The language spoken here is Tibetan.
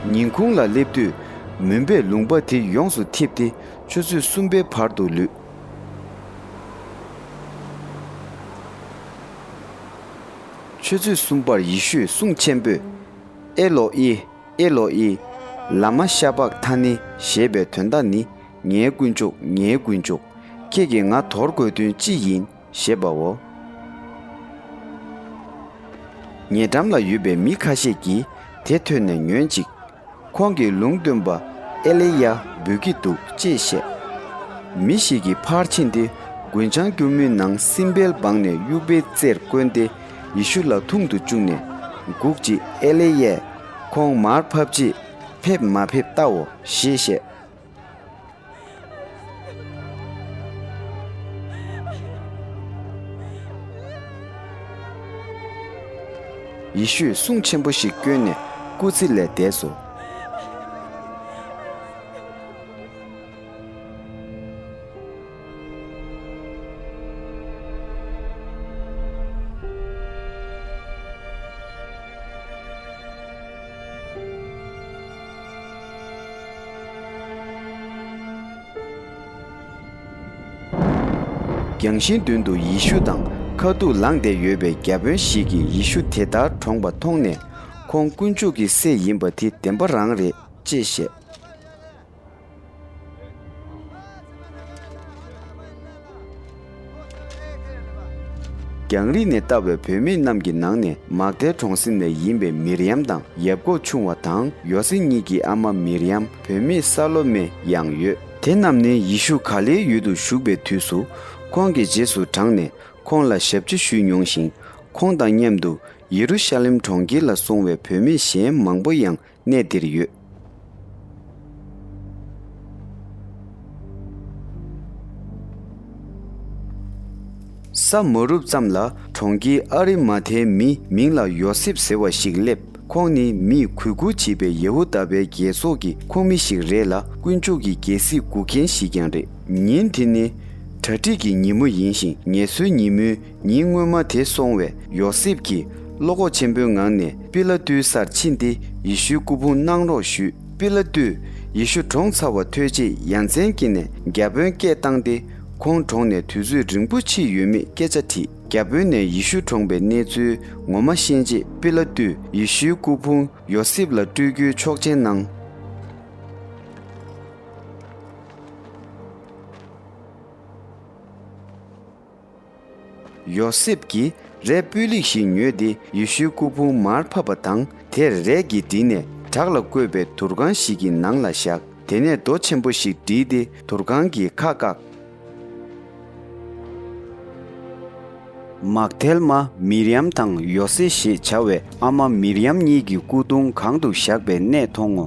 ཉིན་གུང་ལ་སླེབས་དུས་མུན་པའི་ལུང་པ་དེ་ཡོངས་སུ་འཐིབས་ཏེ་ཆུ་ཚོད་གསུམ་པའི་བར་དུ་ལུས། ཆུ་ཚོད་གསུམ་པར་ཡེ་ཤུས་གསུང་ཆེན་པོས། ཨེ་ལོ་ཨི། ཨེ་ལོ་ཨི། ལཱ་མ་ཤ་བཱཀ་ཐ་ནི་ཞེས་པའི་དོན་བརྡ་ནི་ངའི་དཀོན་མཆོག་ངའི་དཀོན་མཆོག་ཁྱེད་ཀྱིས་ང་དོར་དགོས་དོན་ཅི་ཡིན། ཞེས་པའོ། ཉེ་འགྲམ་ལ་ཡོད་པའི་མི་ཁ་ཤས་ཀྱིས་དེ་ཐོས་ནས་ཉོན་ཅིག། ཁོང་གིས་ལུང་སྟོན་པ་ཨེ་ལེ་ཡཱ་འབུལ་གྱི་འདུག་ཅེས་བཤད། མི་ཞིག་གིས་ཕར་ཕྱིན་ཏེ་རྒུན་ཆང་སྐྱུར་མོའི་ནང་སྲིན་བལ་སྦངས་ནས་དབྱུག་པའི་རྩེར་བསྐོན་ཏེ་ཡེ་ཤུ་ལ་འཐུང་དུ་བཅུག་ནས། འགུག་ཅིག་ཨེ་ལེ་ཡཱས་ཁོང་མར་ཕབ་རྗེས་ཕེབས་མ་ཕེབས་བལྟའོ་ཞེས་བཤད། ཡེ་ཤུས་གསུང་ཆེན་པོ་ཞིག་བསྐྱོན་ནས་སྐུ་ཚེ་ལས་འདས་སོ། རྒྱང་ཤིང་མདུན་དུ་ཡེ་ཤུ་དང་ཁ་ཐུག་ལངས་བསྡད་ཡོད་པའི་རྒྱ་དཔོན་ཞིག་གིས་ཡེ་ཤུ་དེ་ལྟར་གྲོངས་པ་མཐོང་ནས། ཁོང་དཀོན་མཆོག་གི་སྲས་ཡིན་པ་དེ་བདེན་པ་རང་རེད་ཅེས་བཤད། རྒྱང་རིང་ནས་བལྟ་བའི་བོད་མི་རྣམས་ཀྱི་ནང་ནས་མག་རྡལ་གྲོང་གསེབ་ནས་ཡིན་པའི་མིར་ཡམ་དང་ཡབ་གོག་ཆུང་བ་དང་ཡོ་སེ་གཉིས་ཀྱི་ཨ་མ་མིར་ཡམ་བོད་མི་ས་ལོ་མེ་ཡང་ཡོད། དེ་རྣམས་ནི་ཡེ་ཤུ་ག་ལེའི་ཡུལ་དུ་བཞུགས་པའི་དུས་སུ་ཁོང་གི་རྗེས་སུ་འབྲངས་ནས་ཁོང་ལ་ཞབས་ཕྱི་ཞུས་མྱོང་ཞིང། ཁོང་དང་མཉམ་དུ་ཡེ་རུ་ཤ་ལེམ་གྲོང་ཁྱེར་ལ་སོང་བའི་བོད་མི་གཞན་མང་པོ་ཡང་གནས་འདིར་ཡོད། ས་མ་རུབ་ཙམ་ལ་གྲོང་ཁྱེར་ཨ་རི་མ་ཐའི་མི་མིང་ལ་ཡོ་སེབ་ཟེར་བ་ཞིག་སླེབས། ཁོང་ནི་མིས་གུས་བཀུར་བྱེད་པའི་ཡ་ཧུ་དཱ་པའི་རྒྱལ་ཚོགས་ཀྱི་ཁོངས་མི་ཞིག་རེད་ལ་དཀོན་མཆོག་གི་རྒྱལ་སྲིད་སྒུག་མཁན་ཞིག་ཀྱང་རེད། ཉིན་དེ་ནི་གྲ་སྒྲིག་གི་ཉིན་མོ་ཡིན་ཞིང་ངལ་གསོའི་ཉིན་མོའི་ཉིན་སྔོན་མ་དེ་སོང་བས་ཡོ་སེབ་ཀྱིས་བློ་ཁོག་ཆེན་པོའི་ངང་ནས་པི་ལ་ཏུའི་སར་ཕྱིན་ཏེ་ཡེ་ཤུའི་སྐུ་ཕུང་གནང་རོགས་ཞུས། པི་ལ་ཏུས་ཡེ་ཤུ་གྲོངས་ཚར་བ་ཐོས་རྗེས་ཡ་མཚན་སྐྱེས་ནས་རྒྱ་དཔོན་སྐད་བཏང་སྟེ་ཁོང་གྲོངས་ནས་དུས་ཚོད་རིང་པོ་ཕྱིན་ཡོད་མེད་སྐད་ཆ་དྲིས། རྒྱ་དཔོན་ནས་ཡེ་ཤུ་གྲོངས་པའི་གནས་ཚུལ་ངོ་མ་ཤེས་རྗེས་པི་ལ་ཏུས་ཡེ་ཤུའི་སྐུ་ཕུང་ཡོ་སེབ་ལ་སྤྲོད་རྒྱུའི་ཆོག་མཆན་གནང། ཡོ་སེབ་ཀྱིས་རས་སྤུས་ལེགས་ཤིག་ཉོས་ཏེ་ཡེ་ཤུའི་སྐུ་ཕུང་མར་ཕབ་པ་དང་དེར་རས་ཀྱིས་བསྒྲིལ་ནས་བྲག་ལ་བརྐོས་པའི་དུར་ཁང་ཞིག་གི་ནང་ལ་བཞག་དེ་ནས་རྡོ་ཆེན་པོ་ཞིག་བསྒྲིལ་ཏེ་དུར་ཁང་གི་ཁ་བཀག། མག་དལ་མ་མི་རི་ཡམ་དང་ཡོ་སེ་ཞེས་བྱ་བའི་ཨ་མ་མི་རི་ཡམ་གཉིས་ཀྱི་སྐུ་གདུང་གང་དུ་བཞག་པའི་གནས་མཐོང་ངོ།